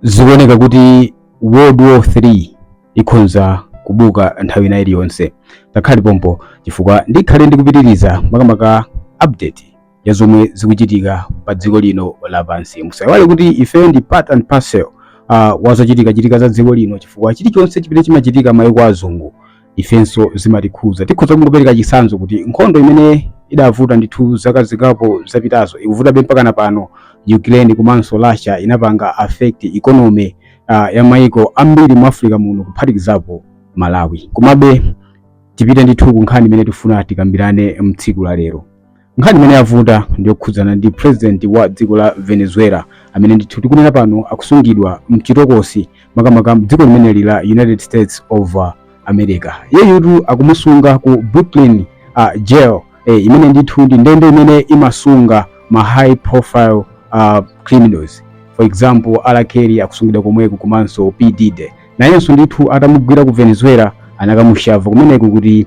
zikuoneka kuti world war 3 ikhonza kubuka nthawi ina iliyonse ngakhale pompo chifukwa ndikhale ndikupitiriza makamaka update ya zomwe zikuchitika pa dziko lino lapansi musaiwale kuti ife ndi part and parcel uh, wazochitika chitika za dziko lino chifukwa chilichonse chimene chimachitika maiko azungu ifenso zimatikhuza tikhoza kungopereka chitsanzo kuti nkhondo imene idabuka ndithu zaka zingapo zapitazo ikuvutabe mpakana pano ukraine komanso russia inapanga affect economy uh, ya maiko ambiri mu africa muno kuphatikizapo malawi komabe tipite ndithu ku nkhani imene tifuna tikambirane mtsiku la lero nkhani imene yavuta ndiyokhudzana ndi president wa dziko la venezuela amene ndithu tikunena pano akusungidwa mchitokosi makamaka mdziko limeneli la united states of uh, america iyeyutu akumusunga ku brooklyn uh, jail eh, imene ndithu ndi ndende imene imasunga ma high profile uh, criminals for example R. Kelly akusungidwa komweko komanso P. Diddy nayenso ndithu atamugwira ku venezuela anakamusiya kumeneko kuti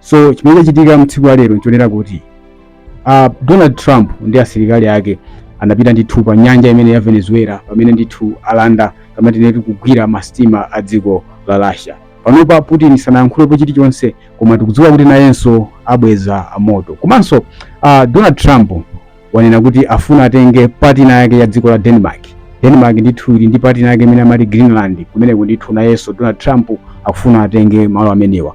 so chimene chachitika mtsiku la lero nchonena kuti uh, donald trump ndi asilikali ake anapita ndithu pa nyanja imene ya venezuela pamene ndithu alanda kapena tinene kuti kugwira masitima a dziko la russia panopa putin sanayankhulepo chilichonse koma tikudziwa kuti nayenso abweza moto komanso uh, donald trump wanena kuti afuna atenge partner yake ya dziko la denmark denmark ndithu ili ndi partner yake imene amati greenland kumeneko ndithu nayenso donald trump akufuna atenge malo amenewa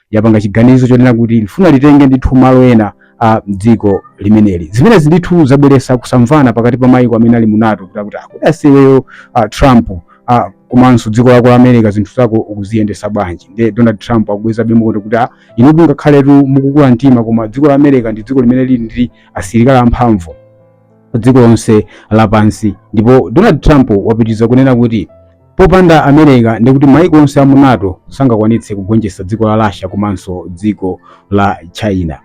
yapanga chiganizo chonena kuti lifuna litenge ndithu malo ena a dziko limeneli zimenezi ndithu zabweresa kusamvana pakati pa maiko amene ali mu nato kuti akuti akuti aise iweyo uh, trump uh, komanso dziko lako la america zinthu zako ukuziyendesa bwanji nde donald trump akubweza be moto kuti ah, inu ngakhaletu mukukula mtima koma dziko la america ndi dziko limene lili ndi asilikali amphamvu dziko lonse lapansi ndipo donald trump wapitiriza kunena kuti Popanda America ndekuti maiko onse a mu nato sangakwanitse kugonjetsa dziko la Russia komanso dziko la China.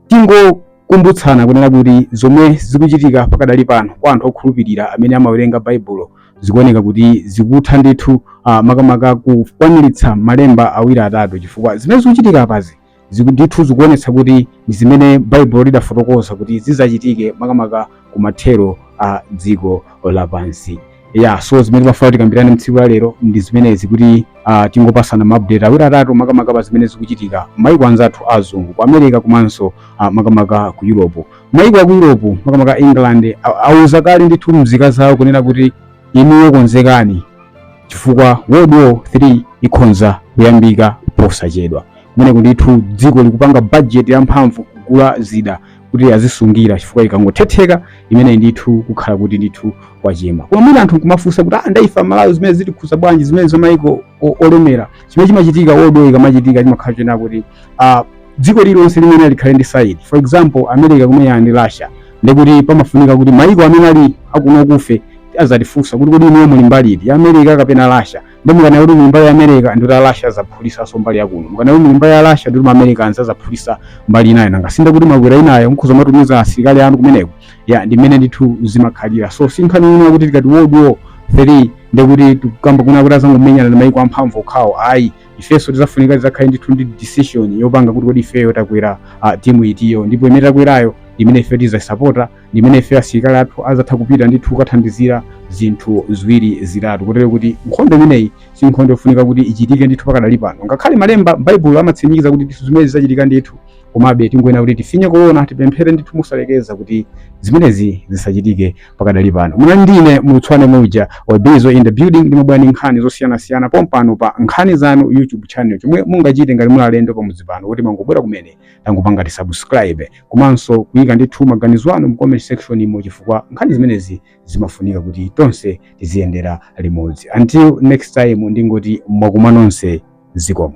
Tingokumbutsana kunena kuti zomwe zikuchitika pakadali pano kwa anthu okhulupirira amene amawerenga Baibulo zikuoneka kuti zikutha ndithu ah, makamaka kukwaniritsa malemba awiri atatu chifukwa zimene zikuchitika apazi ziku- ndithu zikuonetsa kuti ndi zimene baibulo lidafotokoza kuti zizachitike makamaka ku mathero a dziko lapansi ya so zimene timafuna tikambirane mtsiku la lero ndi zimenezi kuti uh, tingopasana maupdate awiri atatu makamaka pa zimene zikuchitika maiko anzathu azungu ku america komanso uh, makamaka ku europe maiko aku europe makamaka england a- auza kale ndithu mzika zawo kunena kuti inuyo konzekani chifukwa world war 3 ikhonza kuyambika posachedwa kumeneko ndithu dziko likupanga bajeti yamphamvu kugula zida kuti azisungira chifukwa ikangothetheka imeneyi ndithu kukhala kuti ndithu kwachema koma mwina anthu nkumafunsa kuti ah nda ife amalawi zimene zitikhuza bwanji zimene zamayiko olemera chimene chimachitika world war ikamachitika chimakhala chena kuti ah, dziko lililonse limene likhale ndi side for example america kumenyana ndi russia ndikuti pamafunika kuti mayiko amene ali akuno kufe azatifunsa kuti kodi inuyo muli mbali iti ya america kapena russia nde mukanena kuti muli mbali ya america ndi kuti a russia azaphulisanso mbali yakuno mukanena kuti muli mbali ya russia ndi kuti maamericans azaphulisa mbali inayo nanga sinde kuti mwakwera inayo mukhoza kumatumiza asilikali anu kumeneko ya ndi mmene ndithu zimakhalira so si nkhani yina kuti tikati world war 3 ndikuti tikukamba kunena kuti azangomenyana ndi maiko amphamvu okhawo ayi ifenso tizafunika tizakhale ndithu ndi decision yopanga kuti kodi ifeyo takwera uh, timu itiyo ndipo imene takwerayo ndi imene ife tizaisapota ndi imene ife asilikali athu azatha kupita ndithu kukathandizira zinthu ziwiri zitatu kotero kuti nkhondo imeneyi si nkhondo yofunika kuti ichitike ndithu pakadali pano ngakhale malemba a m'baibulo amatsimikiza kuti ndithu zimenezi zizachitika ndithu komabe tingoyenera kuti tifinye kuona tipemphere ndithu mosalekeza kuti zimenezi zisachitike pakadali pano munali ndine mulutswane muja wabizo in the building ndimabwera ndi nkhani zosiyanasiyana pompano pa nkhani zanu youtube channel chomwe mungachite ngati muli alendo pamudzi pano kuti mangobwera kumene tangopangani subscribe komanso kuyika ndithu maganizo anu mu comment section mo chifukwa nkhani zimenezi zimafunika kuti tonse tiziyendera limodzi until next time ndingoti mwakuma nonse zikomo